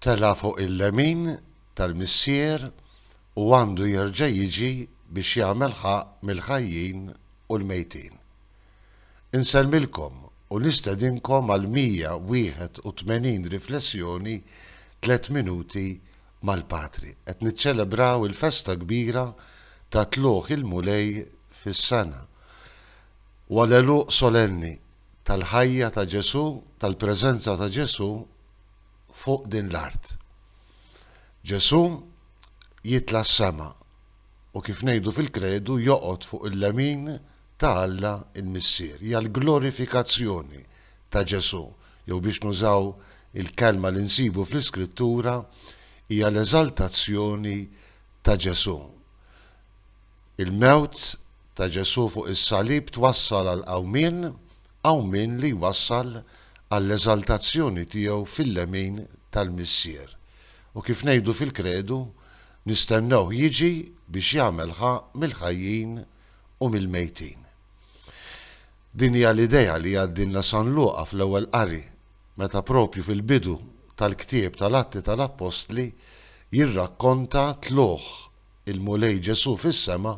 Tela' fuq il-lemin tal-Missier u għandu jerġa' jiġi biex jagħmel ħaqq mill-ħajjin u l-mejtin. Insellmilkom u nistedinkom għal 181 riflessjoni Tliet Minuti mal-Patri. Qed niċċelebraw il-festa kbira ta' Tlugħ il-Mulej fis-sena. u għall-għeluq solenni tal-ħajja ta' Ġesù, tal-preżenza ta' Ġesù fuq din l-art. Ġesù jitla' s-sema u kif ngħidu fil-kredu joqgħod fuq il-lemin ta' Alla l-Missier. Hija l-glorifikazzjoni ta' Ġesù, jew biex nużaw il-kelma li nsibu fl-Iskrittura, hija l-eżaltazzjoni ta' Ġesù. Il-mewt ta' Ġesù fuq is-salib twassal għall-qawmien, qawmien li jwassal għall-eżaltazzjoni tiegħu fil-lemin tal-Missier, u kif ngħidu fil-Kredu, nistennewh jiġi biex jagħmel ħa mill-ħajjin u mill-mejtin. Din hija l-idea li jgħaddilna San Luqa fl-ewwel qari, meta proprju fil-bidu tal-ktieb tal-Atti tal-Appostli jirrakkonta t-tlugħ il-Mulej Ġesù fis-sema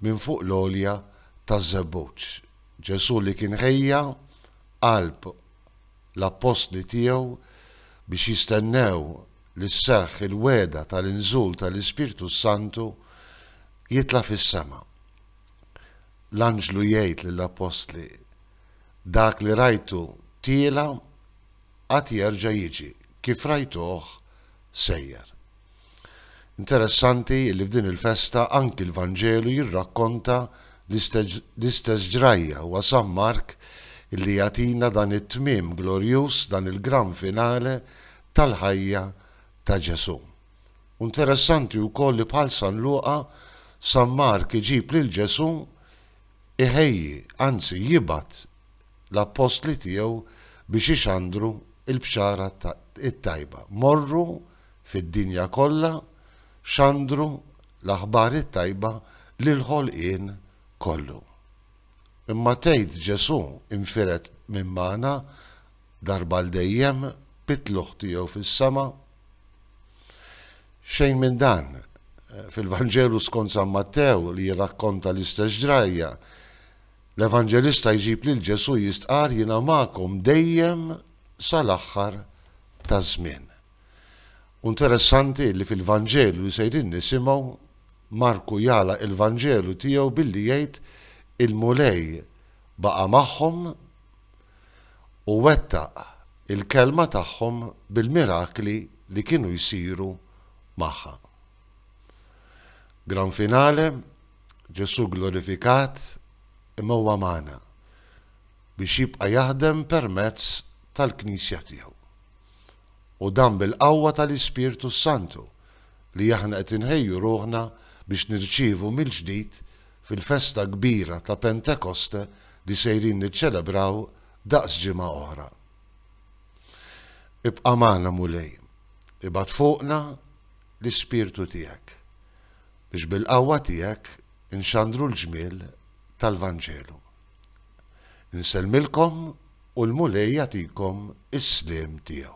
minn fuq l-għolja taż-żebbuġ. Ġesù li kien ħejja qalb l-appostli tiegħu biex jistennew li sseħħ il-wegħda tal-inżul tal-Ispirtu s-Santu, jitla' fis-sema. L-anġlu jgħid lill-appostli, Dak li rajtu tiela' għad jerġa' jiġi, kif rajtuh sejjer. Interessanti li f'din il-festa anki l-Vanġelu jirrakkonta l-istess ġrajja, huwa San Mark li jagħtina dan it-tmiem glorjuż, dan il-gran finale tal-ħajja ta' Ġesù. U interessanti wkoll li bħal San Luqa, San Mark iġib lil Ġesù iħejji, anzi jibgħat l-appostli tiegħu biex ixandru l-bxara t-tajba. Morru fid-dinja kollha xandru l-aħbar it-tajba lill-ħolqien kollu. Imma tgħid Ġesù infired minn magħna darba għal dejjem bit-tlugħ tiegħu fis-sema? Xejn minn dan. Fil-Vanġelu skont San Mattew li jirrakkonta l-istess ġrajja, l-Evanġelista jġib lil Ġesù jistqar jiena magħkom dejjem sal-aħħar taż-żmien. U nteressanti li fil-Vanġelu li sejrin nisimgħu, Marku jagħlaq il-Vanġelu tiegħu billi jgħid il-Mulej baqa' magħhom u wettaq il-kelma tagħhom bil-mirakli li kienu jsiru magħha. Gran finale, Ġesù glorifikat imma huwa magħna. biex jibqa' jaħdem permezz tal-Knisja tiegħu. U dan bil-qawwa tal-Ispirtu s-Santu li aħna qed inħejju ruħna biex nirċievu mill-ġdid fil-festa kbira ta' Pentekoste li sejrin niċċelebraw daqs ġimgħa oħra. Ibqa' magħna Mulej, ibgħat fuqna l-Ispirtu tiegħek biex bil-qawwa tiegħek inxandru l-ġmiel tal-Vanġelu. Insellmilkom u l-Mulej jagħtikom is-sliem tiegħu.